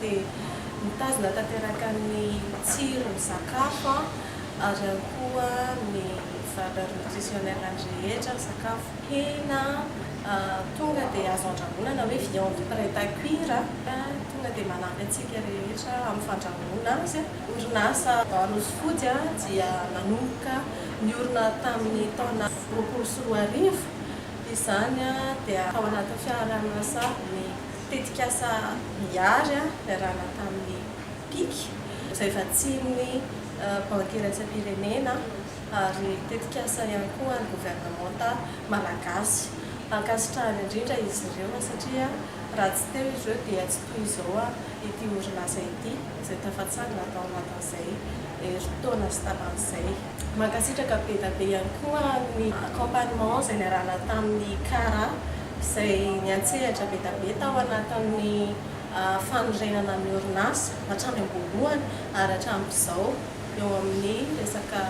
dia mitazona tanteraka ny tsiron'ny sakafo an, ary ihany koa ny valeur nutritionnelle ny rehetra, ny sakafo, hena tonga dia azo andrahoina na hoe viande prête à cuire tonga dia manampy antsika rehetra amin'ny fandrahoana azy. Orinasa Banos Food dia nanomboka niorina tamin'ny taona roapolo sy roa arivo, izany dia tao anatin'ny fiaraha-miasa ny Tetikasa Miary niarahana tamin'ny Pic, izay vatsian'ny Banky iraisam-pirenena ary tetikasa ihany koa governemanta malagasy. Ankasitrahana indrindra izy ireo satria raha tsy teo izy ireo dia tsy toy izao ity orinasa ity izay tafatsangana tao anatin'izay herintaona sy tamin'izay. Mankasitraka bedabe ihany koa ny accompagnement izay niarahana tamin'ny Cara izay niantsehatra bedabe tao anatin'ny fanorenana ny orinasa hatrany am-boalohany ary hatramin'izao eo amin'ny resaka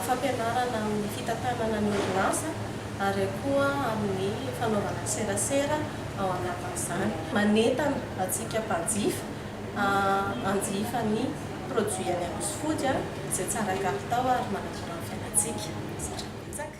fampianarana amin'ny fitantanana ny orinasa ary koa amin'ny fanaovana serasera ao anatin'izany. Manentana antsika mpanjifa. hanjifa ny produit any Rossy Food izay tsara kalitao ary manamora ny fiainantsika. Zatra betsaka.